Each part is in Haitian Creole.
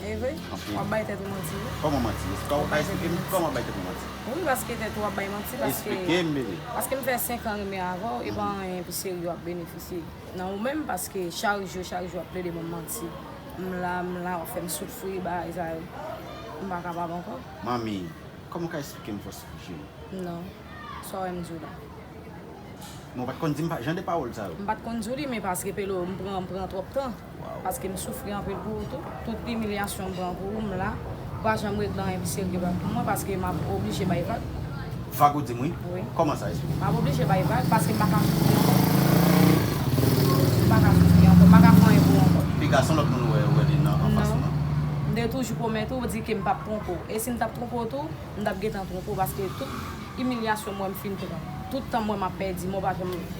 Evre? Anpil. Wap bay tèt ou manti wi. Kòman manti? Eskew ka esplike m kòman bay tèt mwen manti? Wi paske tèt ou wap bay manti paske. Esplike m bebe. Paske m fè 5 an renmen avèw e pa anyen pi serye wap benefisye nan ou menm paske chak jou chak jou wap plede banm manti m la m la wap fèm soufri bagay sa yo m pa kapab ankò. Manmi, kòman w ka esplike m fòs je m? Non. Sa w wè m di w la? Men w pat konn di m jan de pawòl sa yo. M pat konn di w li men paske Pelo m pran m pran twòp tan. Paske m soufri anpil pou ou tou. Tout imilyasyon m pran pou ou, m la. Ou pa janm regle anyen ki serye pou mwen paske m ap oblije bay vag. Vag ou di m wi? Wi. Kòman sa? Esplike m. M ap oblije bay vag paske m pa ka soufri ankò. M pa ka soufri ankò. M pa ka pran anyen pou ou ankò. Epi gason lòt moun ou wè yo wè li nan anfas ou lan? M te toujou pwomèt ou, di ke m p ap twonpe ou. E si m t ap twonpe ou tou, m t ap gentan twonpe ou paske tout imilyasyon m wè m fin pran, tout tan m wè m ap pèdi, men w pa janm.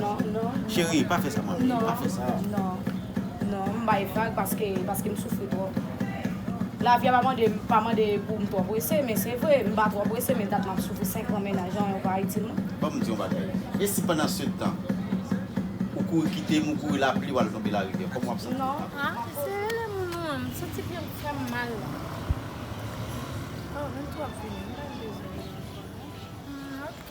Non, non. Cherie, pa fè sa manmi, pa fè sa. Non, non, non. M bay vag paske, paske m soufri twòp. Lavi a pa mande, pa mande pou m twò prese, men se vre, m pa twò prese men dat m ap soufri 5 an mennaj lan yon pa itil mwen. Ban m di yon bagay. E si pandansetan, ou kouri kite m, ou kouri lapli, ou al tonbe larivyè, kòman w ap santi? Non, pa fè sa. Se lè moun ou an, m santi pye m fè m mal la. Oh, m twò vini, m pa bezwen vini ankò non. Hum, ok.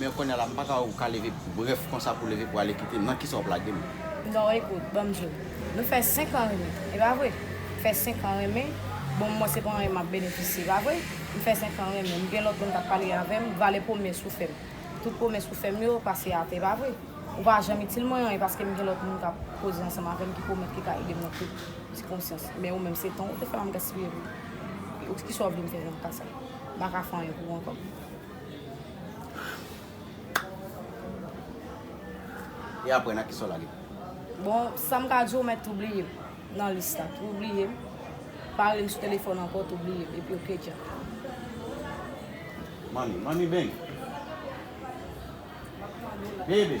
Men konya la m paka wè ou ka leve brèf konsa pou leve pou ale kite m nan kisa wap lage m. Non ekout banm di w nou fè 5 an renmen e pa vre m fè 5 an renmen bon mwen se pa anyen map benefisye e pa vre m fè 5 an renmen m gen lòt moun kap pale avè m valè pwomès ou fè m tout pwomès ou fè m yo pase atè e pa vre ou pa janm itil mwen anyen paske m gen lòt moun kap koze ansanm avè m ki pwomèt ki ka ede m nan tout sikonstans men ou menm se tan ou te fè m ap gaspiye pou ou kisa w vle m fè nan ka sa m paka fè anyen pou ou ankò. E apre nan kisa w lage? Bon, sa m ka di w mèt oubliye m nan lis la. Ou bliye m. Pale m sou telefòn ankò tou bliye m. Epi ok dja. Money, money bang. Baby.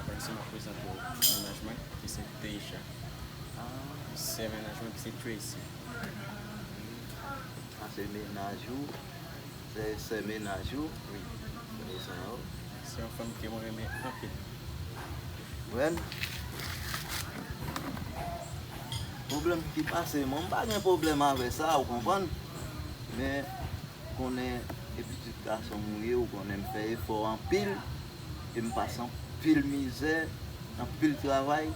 Aprè sa, m ap prezante w mennaj mwen ki se Deja. Sè mennaj mwen ki se Tracy. Sa se mennaj ou? Sè sè mennaj ou? Wi. Kounye sa yo. Se yon fanm ke mwen renmen anpil. Mwen? Pwoblèm ki pase mwen, m pa gen pwoblèm avè sa, ou konprann? Men. konnen e pitit gasonm ou ye ou konnen m fè efò anpil e m pase anpil mizè anpil travay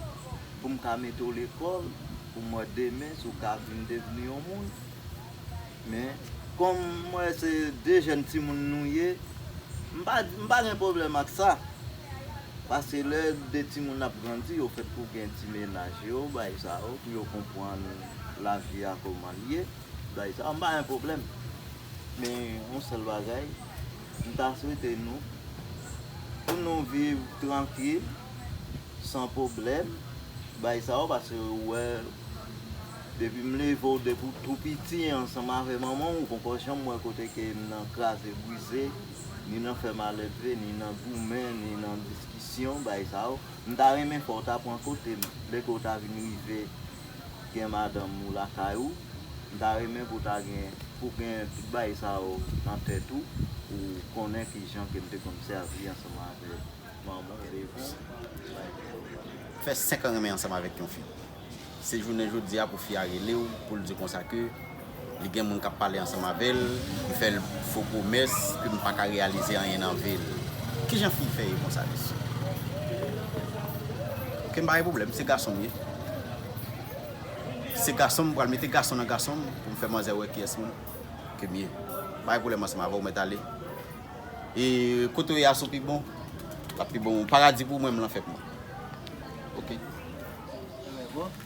pou m ka mete w lekòl pou m wè demen si w ka vin devni yon moun men kòm m wè se de jèn timoun nou ye m pa m pa gen pwoblèm ak sa paske lè de timoun ap grandi yo fèt pou gen ti menaj yo bay sa yo pou yo konprann lavi a kòman l ye. Bagay sa pa yon pwoblèm. Men yon sèl bagay, m ta swete nou, pou nou viv trankil, san pwoblèm, bay sa yo pase ou wè depi m leve w depi w tou piti ansanm avè manman w ou poko janm wè kote ke m nan kraze brize, ni nan fè malelve, ni nan goumen, ni nan diskisyon, bagay sa yo. M ta renmen fè w ta pran kote m lè ke w ta vin rive. gen madanm ou lakay ou, m ta renmen pou ta gen, pou gen tout bagay sa yo nan tèt ou, pou w konnen ki jan ke m te konn sèvi ansanm avèk manman w devan w. Fè 5 an renmen ansanm avèk yon fi. Se jounen jodi a pou fi a rele w pou l di w konsa ke. Li gen moun k ap pale ansanm avè l, li fè l fo pwomès, epi m pa ka reyalize anyen nan vi l. Ki jan fi fè ye konsa mesye? Ok, m pa gen pwoblèm, se gason m ye. Se gason m, m pral mete gason nan gason m pou m fè manzè wè kiyès m ke m ye. M pa gen pwoblèm ansanm avè w, mèt ale. E kote w ye a sou pi bon? L ap pi bon. Paradi pou mwen, m lan fèt mwen. Ok.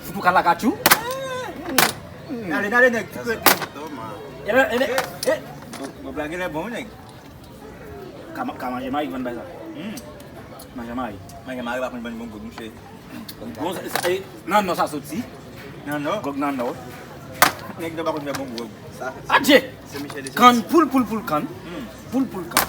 Fout ou ka lakatchou. Nale nale nèg. Bon blag genlè bon wi nèg. Ka manje mari konn bay sa. Manje mari. Manje mari pa konn ban bon goût mouche. Nan nan sa soti. Nan nan. Gòg nan nan. Nèg nan pa konn fè bon goût. Adje! Kann poul poul poul kann. Poul poul kann.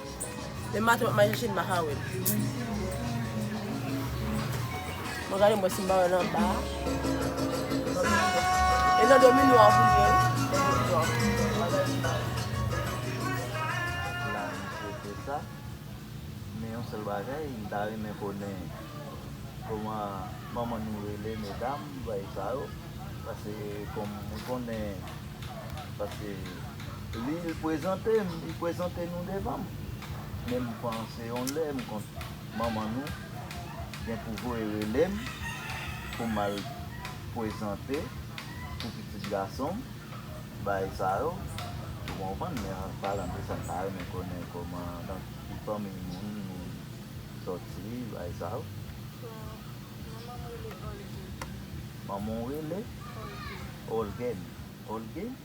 Demen maten map manje chenn maka wèl. Mwen gade mwen si m pa wèl anba. E nan domi nwa pou l ye. La misye fè sa. Men yon sèl bagay m ta renmen konnen kòman manman nou rele medam bay sa yo. Pase kòm mwen konnen pase. Li prezante m, li prezante nou devan m. Men m panse yon lè m konn manman nou gen pou voye rele m pou m al prezante pou pitit gason m bay sa yo. Ou konprann? Men an palan de sa m ta renmen konnen kòman, nan ki fanmi moun nou soti bay sa yo. Manman m rele Olguin. Manman w rele? Olguin. Olguin? Olguin?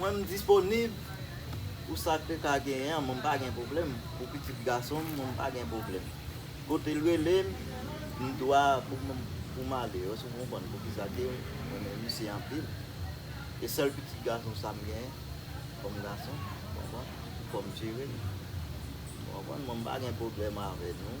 Mwen m disponib pou sa ke ka genyen an, mwen m pa gen pwoblèm. Pou pitit gason m, mwen m pa gen pwoblèm. Kote l rele m, m dwa pou m pou m ale. Wè si w konprann pou ki sa ke m renmen misye anpil. E sèl pitit gason sa m genyen kòm gason, w konprann, pou m jere l. W konprann, mwen m pa gen pwoblèm avè nou.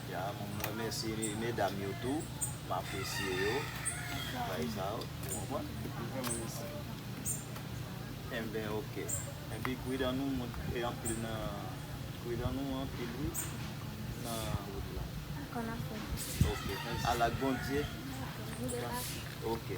M remèsye medam yo tou, m apresye yo pou bagay sa yo. Ou konprann? Yo vreman mechan. Enben ok. Enpi kwi dan nou moun e anpil nan kwi dan nou anpil wi nan wout la. Ou konn afè yo. Ok. Al ak Bondye. Ou debake. Ok.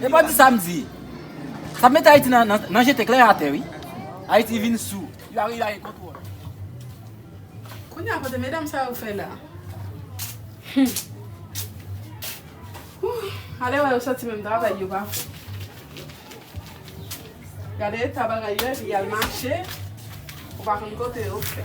Epa di sam di. Sa met Ayiti nan jete klè atè wi. Ayiti vin sou. Li pa vle lage kontwòl. Kounya kote medam sa yo fè la. Humm. Ale wè yo soti menm travay yo pa fè. Gade eta bagay yo epi yal mache. Ou pa konn kote yo fè.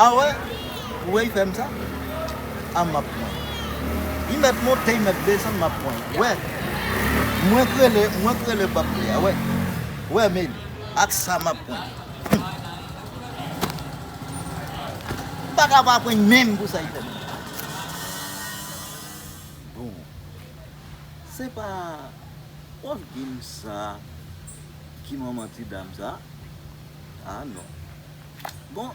Ah wè ou wè yfèm sa ah map pran y mèt monte y mèt desann map pran y wè mwen k rele mwen k rele pap vle ah wè wè meli ak sa map pran y humm m paka pa pran y menm pou sa y fèm bon se pa pòv gin sa ki manman ti dam sa ah non. Bon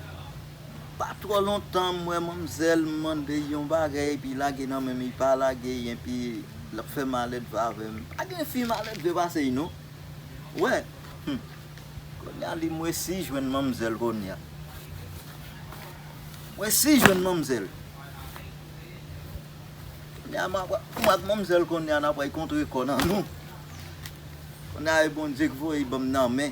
pa twò lontan m wè manmzèl mande yon bagay epi lage nan menm li pa lage enpi lap fè maledve avè m pa gen fi maledve pase li non ou wè humm konnya li m resi jwenn manmzèl konnya m resi jwenn manmzèl konnya map mwen ak manmzèl konnya nap kontre kò nan nou konnya e Bondye k voye banm nan men.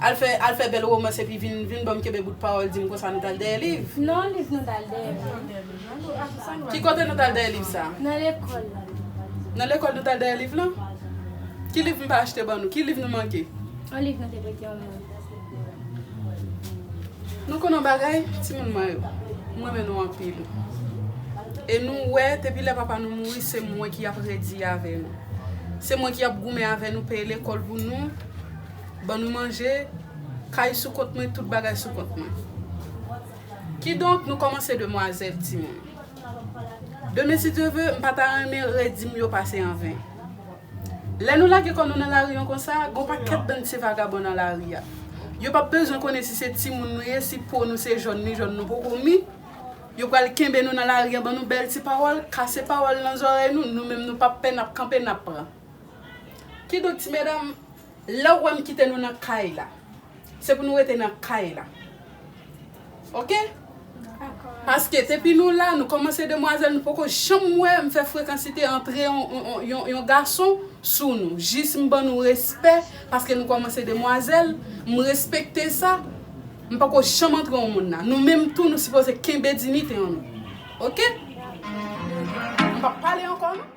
Al fè al fè bèl romans epi vin vin banm kenbe bout pawòl dim konsa nou tal dèyè liv. Non liv nou tal dèyè liv. Ki kote nou tal dèyè liv sa? Nan lekòl la. Nan lekòl nou tal dèyè liv lan? Ki liv m pa achte ban nou? Ki liv nou manke? On liv nou te prete on moun. Nou konn on bagay timoun mwen yo? M renmen nou anpil. E nou wè depi lè papa nou mouri se mwen ki ap redi avè nou. Se mwen ki ap goumen avè nou peye lekòl pou nou. Ban nou manje, kay sou kont mwen, tout bagay sou kont mwen. Kidonk, nou kòmanse demwazèl, timoun. Demen si Dye ve, m pa ta renmen redi m yo pase an ven. Lè nou lage kò nou nan lari an konsa, gen yon pakèt bann ti vagabon nan lari a. Yo p ap bezwen konnen si se timoun nou ye, si po nou se jòn ni jòn nou poko mi. Yo pral kenbe nou nan lari an, ban nou bèl ti pawòl, kase pawòl nan zòrèy nou, nou menm nou p ap pè, n ap kanpe, n ap pran. Kidonk, ti medam. Lèw wèm kite nou nan kay la se pou nou rete nan kay la ok paske depi nou la nou kòmanse demwazèl nou poko janm wèm fè frekansite antre yon gason sou nou jis m ban nou respè paske nou kòmanse demwazèl m respekte sa m poko janm antre yon moun nan nou menm tou nou sipoze kenbe dinite nou ok m pap pale ankò non.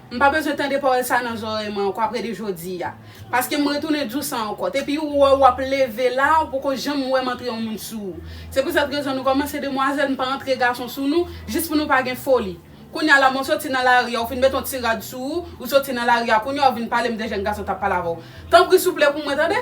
M pa bezwen tande pawòl sa nan zòrèy mwen ankò apre de jodi a. Paske m retounen di w sa ankò. Te pi ou wè w ap leve la, ou poko janm wè m antre yon moun sou ou. Se pou sèt rezon nou kòmanse demwazèl, m pa antre gason sou nou, jis pou nou pa gen foli. Kounye a la men w soti nan lari a, ou fin met yon ti rad sou ou, ou soti nan lari a kounye a ou vin pale m de jèn gason t ap pale avè w. Tanpri souple pou mwen tande.